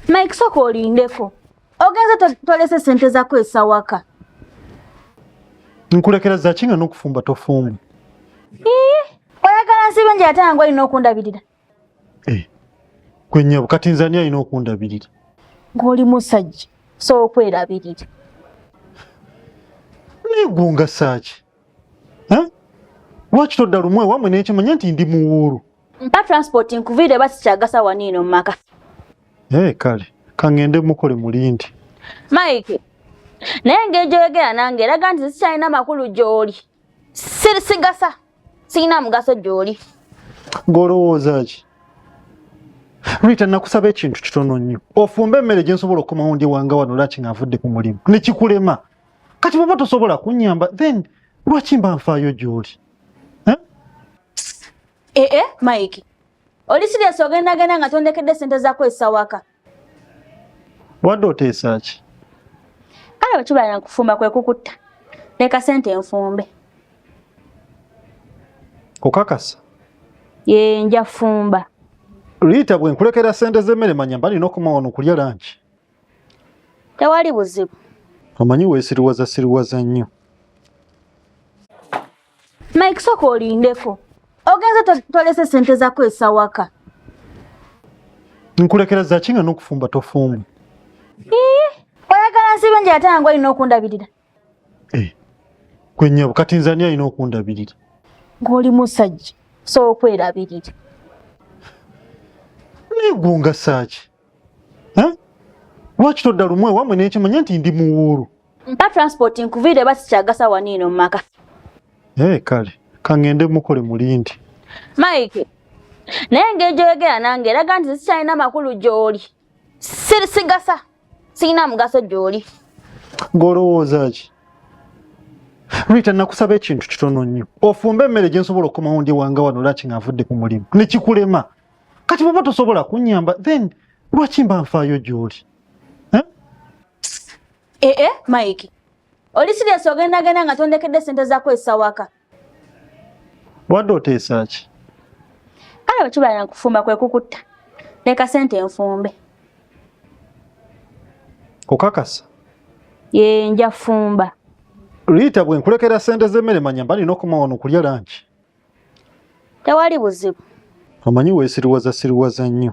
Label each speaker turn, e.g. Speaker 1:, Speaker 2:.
Speaker 1: Mike soko olindeko. Ogenze tolese sente za kwesa waka.
Speaker 2: Nkulekera za kinga n'okufumba tofumba. Eh, oyagala
Speaker 1: nsibe nje ate ngo alina okundabirira. Eh.
Speaker 2: Kwenye bukati nzania alina okundabirira. Ngoli
Speaker 1: musajja so okwerabirira.
Speaker 2: Nigunga saaki. Eh? Lwaki todda lumwe wamwe n'ekimanya nti ndi muwuulu? mpa transport
Speaker 1: nkuviire oba sikyagasa waniino mu maka ee kale
Speaker 2: kaŋŋende mukole mulindi mike
Speaker 1: naye engeri gyoyogera nange eraga nti sikyalina makulu gy'oli sigasa sirina mugaso gy'oli ng'olowooza
Speaker 2: ki rita nakusaba ekintu kitono nnyo ofumba emmere gye nsobola okukomawo ndi wanga wano lwaki nga avudde ku mulimu ne kikulema kati bweba tosobola kunyamba then lwaki mba nfaayo gy'oli
Speaker 1: Eh? Eh, eh, Mike. Oli serious ogenda genda nga tondekedde sente zako esawaka.
Speaker 2: Wanda oteesa ki? Kale
Speaker 1: wetubala na kufumba kwe kukutta. Leka sente enfumbe.
Speaker 2: Okakasa? Ye
Speaker 1: nja fumba. Rita
Speaker 2: bwe nkulekera sente z'emmere manya mbali n'okumawa n'okulya lanki.
Speaker 1: tewali buzibu omanyi
Speaker 2: wesiriwaza siriwaza nnyo
Speaker 1: mike soka olindeko ogenze tolese sente zako esawaka
Speaker 2: nkulekera zaki nga nokufumba tofumba oyagala
Speaker 1: nsibe nje ate nange olina okundabirira eh,
Speaker 2: kwenyabo kati nze ani alina okundabirira ng'oli
Speaker 1: musajja sookwerabirira
Speaker 2: naye gwongasaaki lwaki todda lumu ewamwe nekimanya nti ndi muwuulu mpa transport
Speaker 1: nkuviire ba sikyagasa waniino mumaka ee
Speaker 2: kale kaŋŋende mukole mulindi mike
Speaker 1: naye ngeri gyoyogera nange eraga nti sikyalina makulu gyoli sigasa sirina mugaso gyoli ng'olowooza
Speaker 2: ki rita nakusaba ekintu kitono nnyo ofumbe emmere gyensobola okukomawo ndi wanga wano laki nga nvudde ku mulimu nekikulema kati bwoba tosobola kunyamba then lwaki mba nfaayo gyoli
Speaker 1: ee eh? eh, eh, mike oli siriasi ogendagenda nga tondekedde sente zakozesa waka
Speaker 2: wadde oteesa ki kale
Speaker 1: wekibala nakufumba kwekukutta leka sente enfumbe
Speaker 2: okakasa ye
Speaker 1: nja fumba liita
Speaker 2: bwenkulekera sente z'emmere manya mba nina okumawa nokulya lanki tewali buzibu omanyi
Speaker 1: wesiriwaza
Speaker 2: siriwaza nnyo